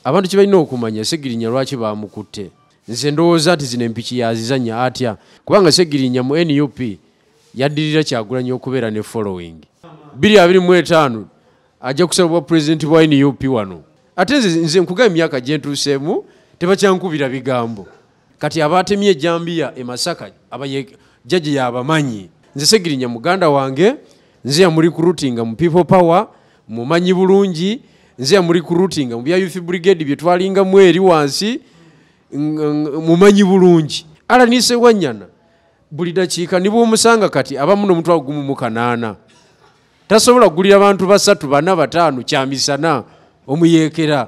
abantu kibalina okumanya segirinya lwaki bamukutte nze ndowooza nti zino empiki yazizanya atya kubanga segirinya mu nup yaddirira kyagulanyi okubeera ne following biri abiri mu etaano ajja kusala obwa pulezidenti bwa nup wano ate nze nkuga emyaka gyentuuseemu tebakyankubira bigambo kati abatemye ejambiya e masaka abaye jaji yabamanyi nze segirinya muganda wange nze yamuli kurutinga mu people power mumanyi bulungi nze yamuli kurutinga mu bya youth brigade bye twalinga mweri wansi mumanyi bulungi ala nise wanyana buli dakiika ni bwomusanga kati abamu nomutwalo gumu mu kanaana tasobola kugulira bantu basatu bana bataano kyamisana omuyeekera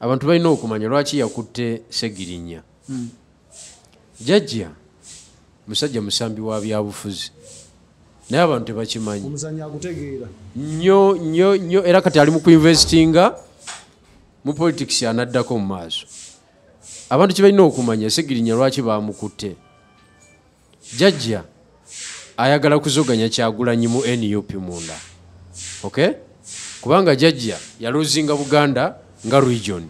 abantu balina okumanya lwaki yakutte segirinya hmm. jajja musajja musambi wa byabufuzi naye abantu tebakimanyi nyo nyo nyo era kati ali mu kuinvestinga mu politics anaddako mu maaso abantu kibalina okumanya segirinya lwaki bamukutte jajja ayagala kuzoganya kyagulanyi mu nup munda okay kubanga jajja yaluzinga buganda nga region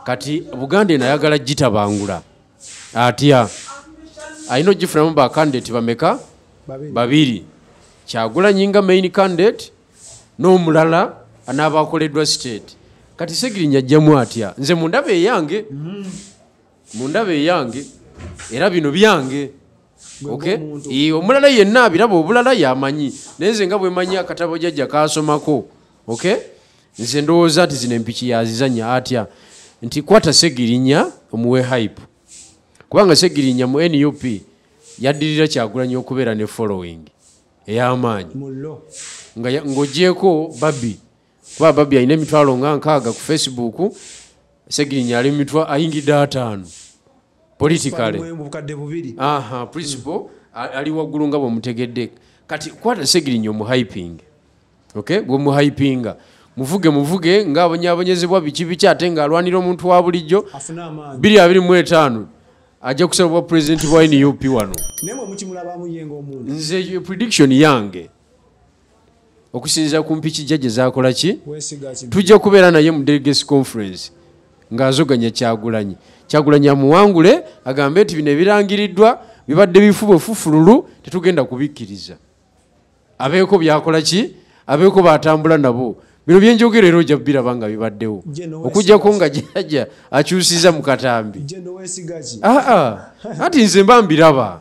kati buganda eno ayagala gitabangula atya alina ogifunamu bakandidate bameka babiri kyagulanyi nga main candidate n'omulala anaabakoleddwa state kati segirinya ajjamu atya nze mundaba eyange mm-hmm. mu ndaba eyange era bino byange omulala yenna abiraba obulala yamanyi naye nze nga bwemanyi akatabo jajja kasomako ok nze ndowooza nti zino empiki yazizanya atya nti kwata segirinya omuwe hype kubanga segirinya mu nup yaddirira kyagulanyi okubeera ne following eyamaanyi ngaogyeko babi kuba ababi alina emitwalo nga nkaaga ku facebook segirinya ali mumitwa ayingidde ataano politicalemubukadde bubiri aha principal mm. ali waggulu nga bwemutegedde kati kwata segirinya omuhyping ok bwemuhypinga muvuge muvuge nga abonyabonyezebwa biki biki ate nga alwanira omuntu wa bulijjo biri abiri mu etaano ajja kusaba bwa pulezidenti bwa nup wano nze prediction yange okusinzira ku mpiki jjajja zakola ki tujja kubeera naye mu delegacy conference ng'azoganya kyagulanyi kyagulanyi amuwangule agambe nti bino ebirangiriddwa bibadde bifuba ofufululu tetugenda kubikkiriza abeeko byakola ki abeeko batambula nabo bino byenjogera era ojja biraba nga bibaddewo okujjako nga jajja akyusiza mu katambi aa anti nze mba mbiraba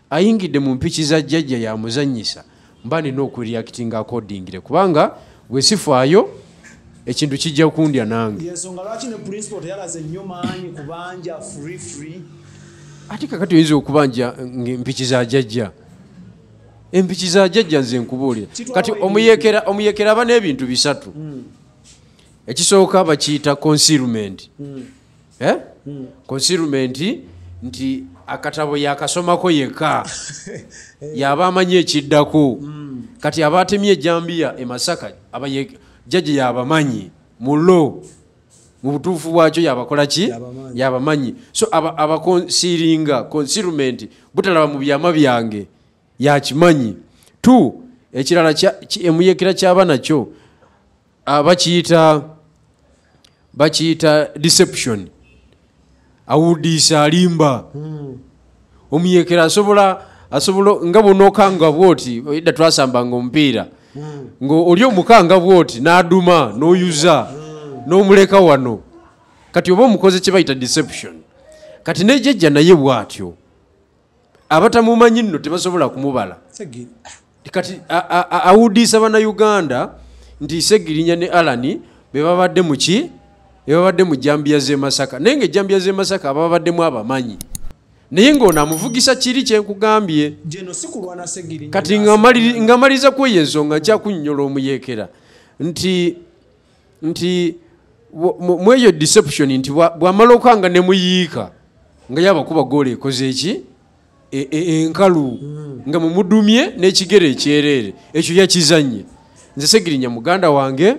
ayingidde mu mpiki za jjajja yamuzanyisa mba nina okureactinga accordingire kubanga wesifaayo ekintu kijja kundya nange ate kakati oyinza okubanja mpiki za jjajja empiki za jjajja nze nkubuulira kati omuyekera omuyekera aba n'ebintu bisatu hmm. ekisooka bakiyita concealment hmm. eh? hmm. concealment nti akatabo yakasomako yekka yaba amanyi ekiddako hmm. kati aba atemye ejambiya emasaka jaji yabamanyi mulo mu butuufu bwakyo yabakola ki yabamanyi so abakonsiringa aba concealment butalaba mu byama byange yakimanyi t ekirala emuyekera kyaba nakyo abakiyita bakiyita deception awudiisa alimba hmm. omuyekera asobola asobola nga bwonaokanga bwoti edda twasambanga omupiira hmm. nga oli omukanga bwoti n'aduma n'oyuza hmm. n'omuleka wano kati oba omukoze kye bayita deception kati nejejja naye bwatyo abatamumanyi nno tebasobola kumubala kati awudiisa banauganda nti segirinya ne alani bebabadde muki bebabadde mu jambiya zemasaka naye nga ejambiya zemasaka abababaddemu abamanyi naye ngaono amuvugisa kiri kyenkugambye kati ngamaliriza kweyo ensonga nkyakunyonyola omuyekera nti nti mweyo deception nti bwamala okanga nemuyiika nga yabakuba goola ekoze eki e, e, enkalu hmm. nga mumudumye n'ekigere ekyereere ekyo yakizanye nze segirinya muganda wange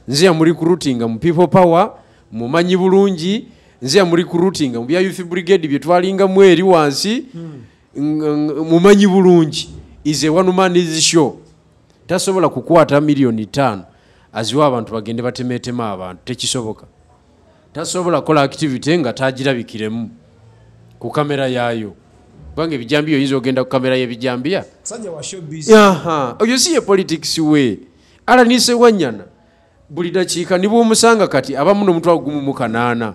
nze yamuli kurutinga mu people power mumanyi bulungi nze yamuli kurutinga mu bya youth brigade bye twalingamu eri wansi hmm. mumanyi bulungi is a one man is show tasobola kukwata miliyoni ttaano aziwa abantu bagende batemeetema abantu tekisoboka tasobola kukola activity nga tagirabikiremu ku kamera yaayo kubanga ebijambiya oyinza ogenda ku kamera y'ebijambiya oyo si ye politics we alanise wanyana buli dakiika ni bwomusanga kati abamu nomutwe agumu mu kanaana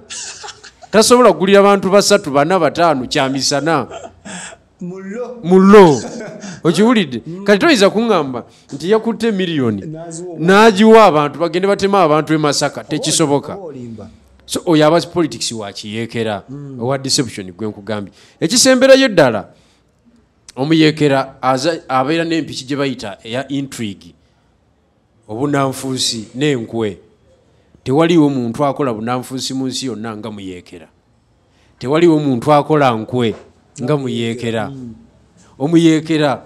tasobola kugulira bantu basatu bana bataano kyamisana mullo okiwulidde mm. kati toyinza kuŋŋamba nti yakutte miliyoni n'agiwa abantu bagende batema abantu e masaka tekisoboka so oyo aba politics wakiyeekera mm. owa deception gwe nkugambye ekisemberayo ddala omuyeekera abeera n'empiki gye bayita eya intrigue obunanfuusi n'enkwe tewaliwo muntu akola bunanfuusi mu nsi yonna nga muyeekera tewaliwo muntu akola nkwe nga muyeekera omuyeekera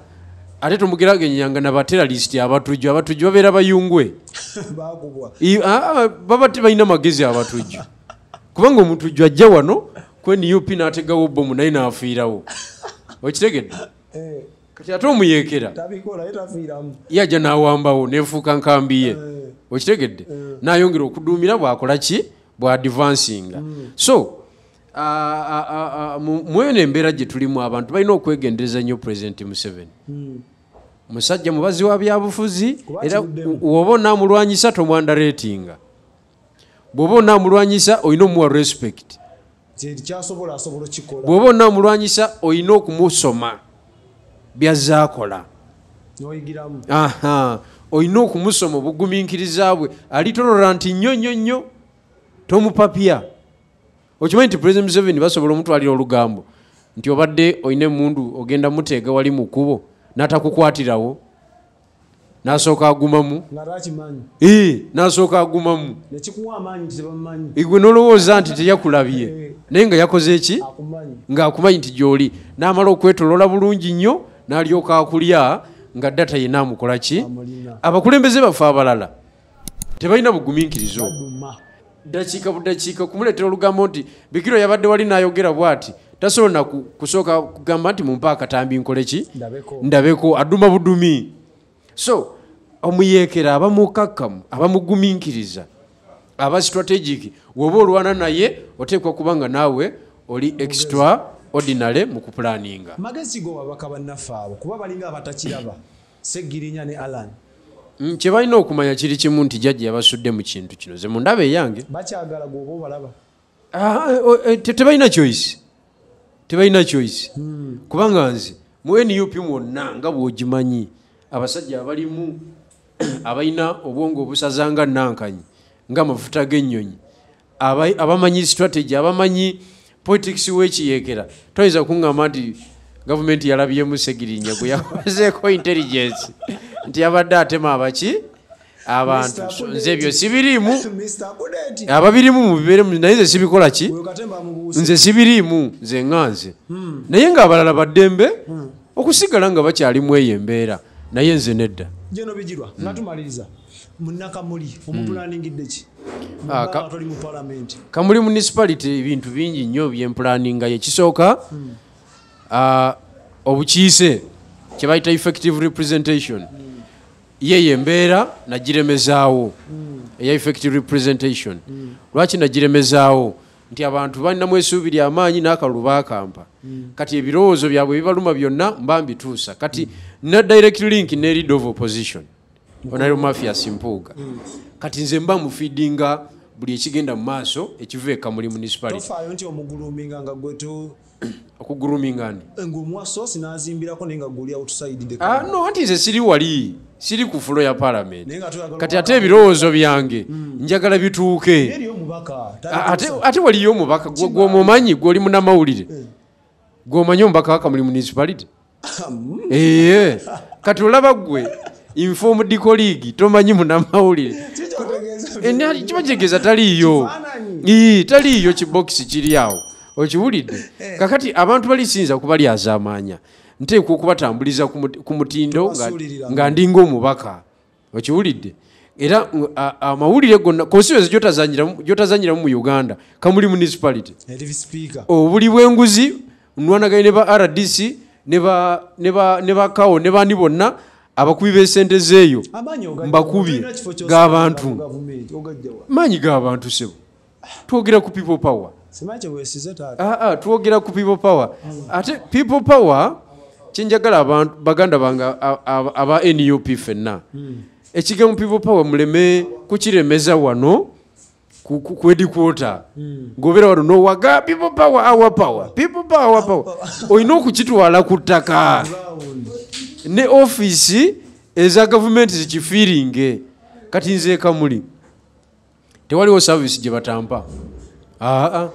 ate tumugeragenyanga nabateralisiti abatujju abatujju babeera bayungwe baba tebalina magezi abatujju kubanga omutujju ajja wano kwenup n'ategawo bomu naye n'afiirawo okitegedde eh. kati ate omuyeekera yaja n'awambawo nefuuka nkambi ye eh. okitegedde eh. nayongera okuduumira bwakola ki bwadivansinga hmm. so mweyo nembeera gye tulimu abantu balina okwegendereza nnyo pulezidenti museveni hmm. musajja mubazi wa byabufuzi era woba onamulwanyisa tomwanda reetinga bw'oba onaamulwanyisa olina omuwa respect bw'oba onaamulwanyisa olina okumusoma byazze akola olina okumusoma obugumiikiriza bwe ali toloranti nnyo nnyo nnyo tomupapya okimanyi nti president museveni basobola omutwalira olugambo nti obadde olina emundu ogenda muteega wali mu kkubo n'atakukwatirawo nasooka agumamu nasooka agumamu igwe nolowooza nti teyakulabye eh. naye nga yakoze eki ngaakumanyi nti gyoli namala okwetolola bulungi nnyo nalyoka akulya nga data yenamukola ki abakulembeze baffe abalala tebalina buguminkiriza obwo dakiika budakiika kumuleetera olugambo nti bikiro yabadde wali n'ayogera bwati tasobola na kusooka kugamba nti mumpa akatambi nkole ki ndabeko aduma budumi so omuyeekera aba mukakkamu aba muguminkiriza aba strategic woba olwana naye oteekwa kuba nga naawe oli extra ordinary mu kupulaninga magezi go wabaka bannaffe abo kuba balinga abatakiraba Ssegirinya ne Allan. Mm, kye balina okumanya kiri kimu nti jajja yabasudde mu kintu kino ze mundaba eyange bakyagala gwoba obalaba ah, eh, eh, eh, tebalina choice tebalina choice hmm. kubanga nze mu nup mwonna nga bwogimanyi abasajja abalimu abalina obwongo obusaza nga nankanyi nga amafuta g'ennyonyi abamanyi strategy abamanyi politics wekiyekera toyinza kuŋama nti gavumenti yalabyemu segirinya gwe yakozeeko intelligence nti yabadde atema abaki abantu nze ebyo sibiriimu ababirimu mubiberemu naye nze sibikola ki nze sibiriimu nze nga nze hmm. naye nga abalala baddembe hmm. okusigala nga bakyalimu eyo embeera naye nze nedda munakamuli omupulaaningidde hmm. ki ah, atoli mu palamenti kamuli municipality ebintu bingi nnyo byempulaaninga yekisooka hmm. ah, obukiise kyebayita effective representation hmm. yeyo embeera nagiremezaawo eya effective representation lwaki nagiremezaawo nti abantu balinamu esuubi lyamaanyi n'akalulu baakampa kati ebirowoozo byabwe bibaluma byonna mba mbituusa kati na direct link ne lead of opposition onayo mafias mpuuga mm. kati nze mba mufidinga buli ekigenda mu maaso ekiva eka muli municipalitofaayo nti omuguluminga nga gwe to okuguruminga ni eh, ngaomuwasosi nazimbirako naye nga guli outside ah, no anti nze siri wali siri ku fulo ya palamenti kati ate ebirowoozo byange hmm. njagala bituuke ah, ate waliyo omubaka gwomumanyi gwoli munamawulire eh. gwomanyi omubaka wakamuli municipality eye kati olaba gwe informed colleague tomanyi munamawulire kiba kitegeeza taliiyo taliiyo kibokisi kiri awo okiwulidde eh. kakati abantu bali siyinza kuba lyazamaanya nteekwa okubatambuliza ku mutindo nga ndinga omubaka okiwulidde era amawulire gonna constituency gyotazanyiramu mu uganda kamuli municipality obuli bwenguzi nwanaganye ne ba rdc ne bakawo ne bani bonna abakubi b'esente zeeyo mbakubye g'abantu maanyi g'abantu sebo twogera ku people power ah, ah, twogera ku people power hmm. ate people power kyenjagala baganda bange aba nup fenna hmm. ekigambo people power muleme kukiremeza wano kwedikwota hmm. ngobeera wano nowaga people power our power people power our power olina okukitwala ku ttaka ne ofiisi eza gavumenti zikifiiringe kati nzeekamuli tewaliwo service gye batampa aa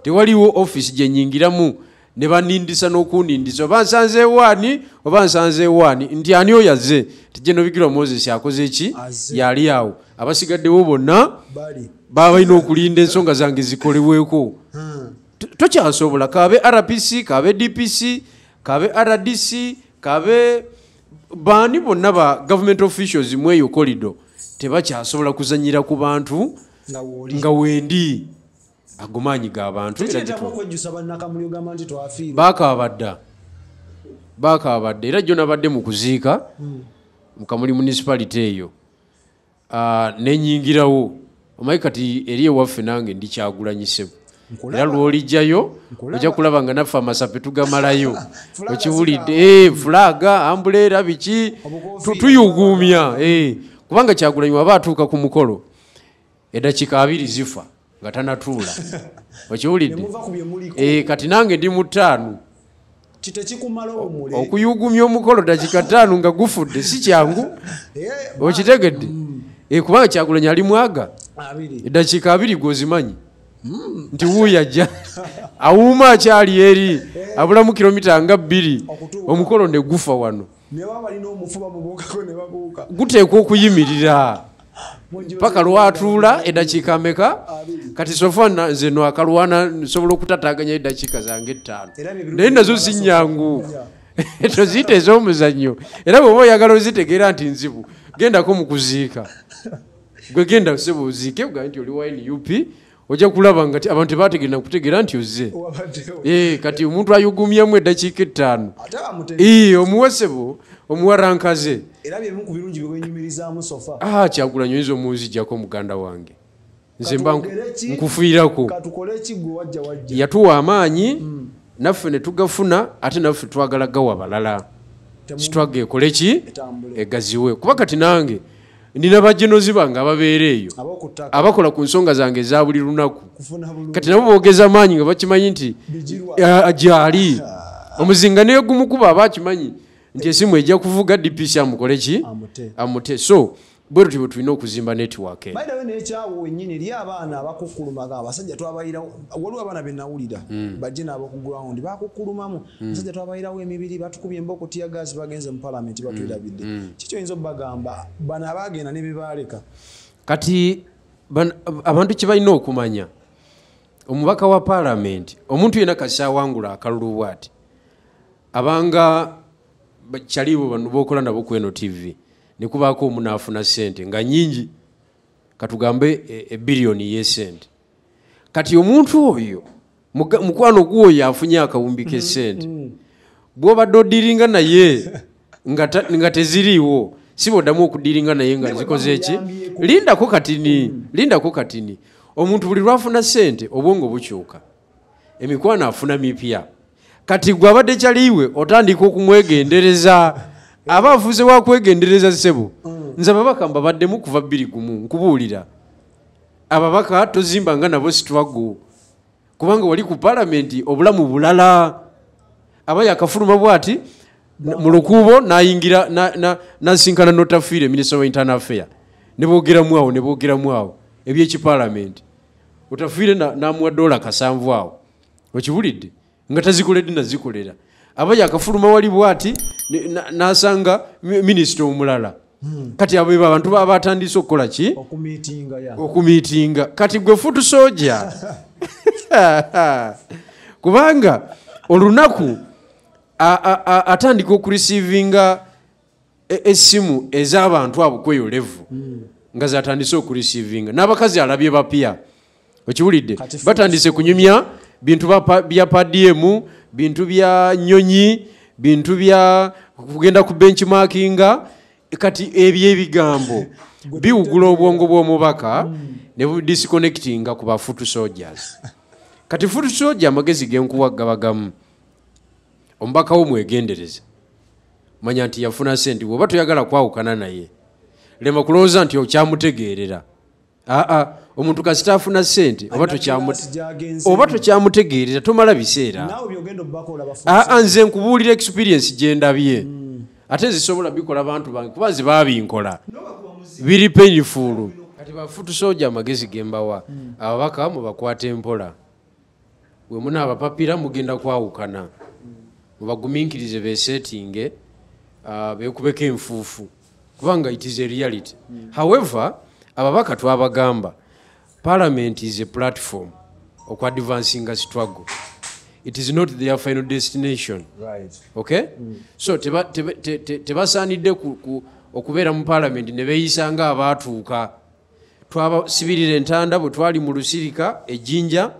tewaliwo office gye nyingiramu ne banindisa n'okunindisa oba nsanze ewaani oba nsanze ewaani nti ani oyo azze tijeno bigirwa moses akoze ki yali awo abasigaddewo bonna baba balina okulinda ensonga zange zikolebweko hmm. tokyasobola kabe rpc kabe dpc kabe rdc kabe baani bonna ba government officials mu eyo kolido tebakyasobola kuzanyira ku bantu nga wendi agomaanyi gabantu bakabadda bakabadda era jo nabadde mu kuziika hmm. mukamuli municipality eyo ah, nenyingirawo omanyi kati eri ewaffe nange ndikyagulanyisebwe era lwolijjayo ojja kulaba nga naffe amasape tugamalayo okiwulidde eh, fulaga ambuleera biki tuyuguumya eh, kubanga kyagulanyi waba atuuka ku mukolo eddakiika abiri zifa nga tanatuula okiwulidde eh, kati nange ndi mutaanu okuyugumya omukolo dakika taano nga gufudde si kyangu eh, okitegedde mm. eh, kubanga kyakulanya ali mwaga eddakiika abiri gwozimanyi mm. nti wuuyo ajja awuuma akyali eri abulamu kilomita nga bbiri omukolo negufa wano guteekwa okuyimirira paka lwatuula edakiika meka kati sofa nze no akalwana nsobola okutataganya edakiika zange ettaano naye nazo zinyangu toziyita ez'omuzannyo era bweoba oyagala ozitegeera nti nzibu gendako mu kuziika gwe genda sebo oziike ogambe nti oli wa nup ojja kulaba nga abantu tebategera nakutegera nti ozze eh, kati omuntu ayugumyemu eddakiika ettaano eh, omuwesebo omuwarankaze ah, kyagulanyo oyinza omunzijjako muganda wange nze mba nkufiirako yatuwa amaanyi hmm. naffe netugafuna ate naffe twagala gawa balala sitwaga ekoleki egaziwe kuba kati nange nina bajenozi bange ababeera eyo abakola ku nsonga zange eza buli lunaku kati nabo bogeza maanyi nga bakimanyi nti gyali omuzinga negumukuba aba akimanyi nti esimu ejja kuvuga dpc amukole ki amute so bwe tutyo bwe tulina okuzimba netiwaka enaye nekyawo wenyini eri abaana abakukulumaga abasajja twabayirawo waliwo abaana benawulira hmm. bajje nabo ku ground bakukulumamu Mm. musajja twabairawo emibiri batukubye emboko tiya gaasi bagenze mu palamenti mm. batwirabidde mm. kiki oyinza obagamba bano abagenda nebebaaleka kati abantu kyebalina okumanya omubaka wa palamenti omuntu yena kakyawangula akalulu bwati abanga kyalibo bano bokola nabo kweno tv nekubaako omunaafuna sente nga nyingi katugambe ebiliyoni e yesente kati omuntu oyo mukwano guwo yafunye akawumbi kesente mm, mm. bwobadde odiringa naye nga teziriiwo siba oddamu okudiringa naye nga zikoze eki lindako katini mm. lindako katini omuntu buli lwafuna sente obwongo bukyuka emikwano afuna mipya kati gwe abadde kyaliiwe otandika okumwegendereza aba afuze wakwegendereza ssebo nze ababaka mbabaddemu kuva bbiri gumu nkubuulira ababaka tozimba nga nabo situwago kubanga wali ku palamenti obulamu bulala aba yakafuluma bwati mu lukuubo nayingira nasinkana notafiire minisita wa internal affair nebogeramu awo nebogeramu awo ebyekipalamenti otafiire namuwa dola kasanvu awo okiwulidde nga tazikolede nazikolera aba yakafuluma wali bwati nasanga minisita omulala hmm. kati abo ebo abantu baba batandise okukola ki okumitinga kati gwe futu soja kubanga olunaku atandika okurisivinga e, esimu ezabantu abo kweyo levu mm. nga zatandise okurisivinga n'abakazi alabye bapya okiwulidde batandise kunyumya bintu bya padiyemu bintu bya nyonyi bintu bya kugenda ku benchmarkinga kati ebyo ebigambo biwugula obwongo bw'omubaka mm. ne disconnectinga ku ba foot soldiers kati foot soldier amagezi genkuwa gabagamu omubaka wo mwegendereze manya nti yafuna sente bwoba toyagala kwawukana naye lema kulowooza nti okyamutegeerera aa omuntu kasita afuna sente oba tokyamutegeerera tomala biseera aa nze nkubuulira experience gyendabye hmm. ate nzisobola bikola bantu bange kuba nze babinkola biri penyifulu kati bafutusoja amagezi gembawa hmm. ababaka mubakwata empola bwe munaabapapira mugenda kwawukana mubagumiikirize beeseetinge uh, beekubeko enfuufu kubanga it is a reality mm. however ababaka twabagamba parliament is a platform oku advancing a struggle it is not their final destination right. okay mm. so tebasaanidde te, te, te, okubeera mu parliament ne beeyisa nga abaatuuka twabasibirira entanda bwe twali mu lusirika ejjinja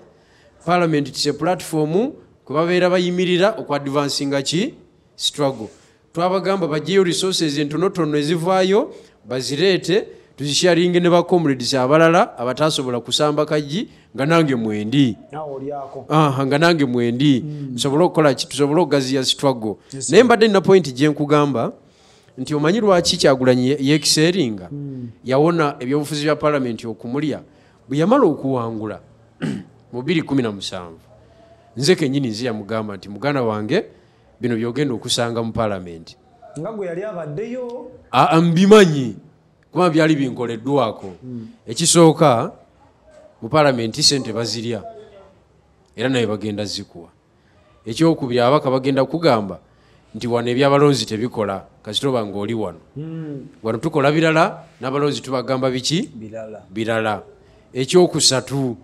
palamenti tise pulatifomu kwe babeera bayimirira okuadvansinga ki struggle twabagamba bajeyo resources entonotono ezivaayo bazireete tuzisharinge ne bacomrades abalala abatasobola kusamba kajji nga nange mwendi nga nange mwendi hmm. nsobole okukola ki tusobole okugaziya struggle naye mbadde nina pointi gyenkugamba nti omanyi lwaki kyagulanyi yekiseeringa hmm. yawona ebyobufuzi bya palamenti okumulya bwe yamala okuwangula mu 217 nze kenyini nze yamugamba nti muganda wange bino byogenda okusanga mu palamenti nga gwe yali abaddeyo mbimanyi kuba byali binkoleddwako hmm. ekisooka mu palamenti sente bazirya era naye bagenda zikuwa ekyokubiri ababaka bagenda kugamba nti wano ebyabalonzi tebikola kasitoba nga oli wano hmm. wano tukola birala n'abalonzi tubagamba biki birala ekyokusatu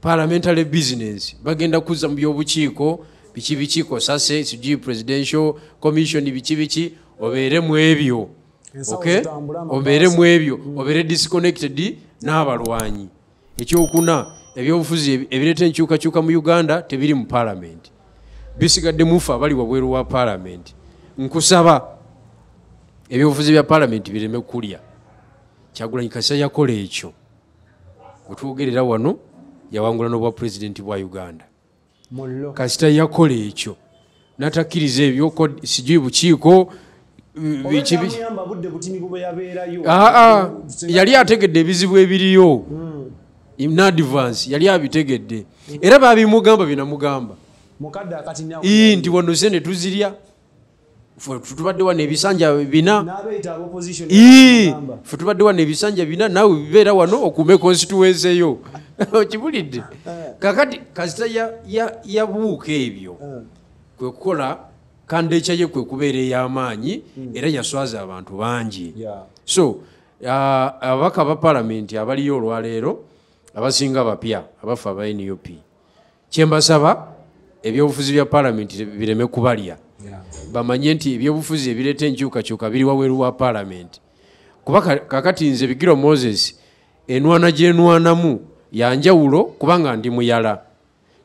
parliamentary business bagenda kuzza mu byobukiiko biki biki kosase sijui presidential commission biki biki obeere mu ebyo obeere mu ebyo hmm. obeere disconnected n'abalwanyi ekyokuna ebyobufuzi ebireeta enkyukakyuka mu uganda tebiri mu palamenti bisigadde mufe abali wabweru wa palamenti nkusaba ebyobufuzi bya palamenti bireme kulya kyagulanyi kasa yakola ekyo wetwogerera wano yawangula n'obwa pulezidenti bwa uganda kasita yakola ekyo natakkiriza ebyo sijui bukiiko ah, ah, yali ategedde ebizibu ebiriyo hmm. nadvance yali abitegedde era babimugamba binamugamba nti wano sente tuzirya tubadde wano ebisanja bina fe tubadde wano ebisanja bina naawe bibeera wano okuume konsituwense yo okibulidde eh. kakati kasita yabuuka ebyo eh. kwe kukola kandeekya ye kwe kubeera ey'amaanyi hmm. era yaswaza abantu bangi so uh, ababaka ba palamenti abaliyo olwaleero abasinga bapya abafa aba nup kyembasaba ebyobufuzi bya palamenti bireme kubalya bamanye nti ebyobufuzi ebireeta enkyukakyuka biri waweru wa palamenti kuba kakati nze bigiro moses enwana gyenwanamu yanjawulo kubanga ndi muyala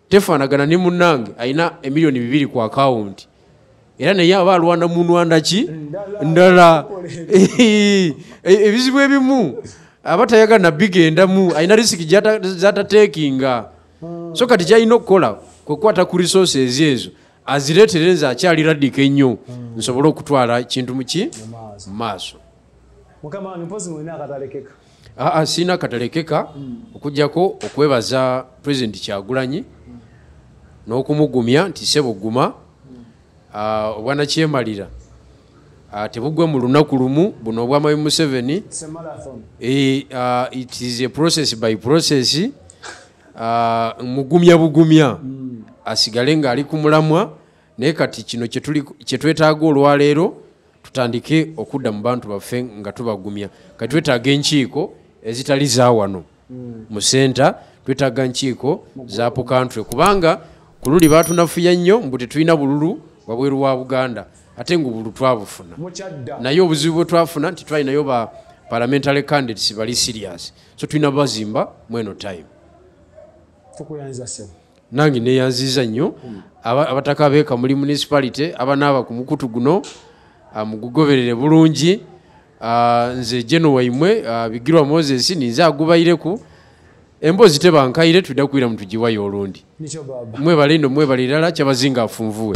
tefanagana ne munange alina emiliyoni bibiri ku akawunti era naye aba alwana mu nwanda ki ndala e, ebizibu ebimu aba tayagala nabigendamu alina risiki zatatekinga hmm. so kati kyalina okukola kwekwata ku resources ezo aziretere nze akyali radika ennyo hmm. nsobole okutwala kintu muki mu maaso aa sirina katalekeka hmm. okujjako okwebaza president kyagulanyi n'okumugumya nti sebuguma Ah, obwanakyemalira ah, tebugwa mu lunaku lumu buno obwamayi museveni eh, ah, it is a process by process mugumya bugumya hmm. asigale ng'ali ku mulamwa naye kati kino kyetwetaaga olwaleero tutandike okudda mu bantu baffe nga tubagumya kati twetaaga enkiiko ezitali za wano hmm. mu senta twetaaga nkiiko za pukantry kubanga ku luli batunafuya nnyo mbu tetulina bululu wabweru wa buganda ate nga obulu twabufuna naye obuzibu bwe twafuna nti twalinayo ba parliamentary candidates bali serious so tulina bazimba mweno time nange neyanziza nnyo abataka abeeka muli municipality abanaaba ku mukutu guno ah, mugugoberere bulungi ah, nze geno waimwe ah, bigirwa moses ninze agubayireku emboozi tebankaire tuda kuira mutugiwayo olundi mwebale ino mwebale irala kyabazinga afunvuwe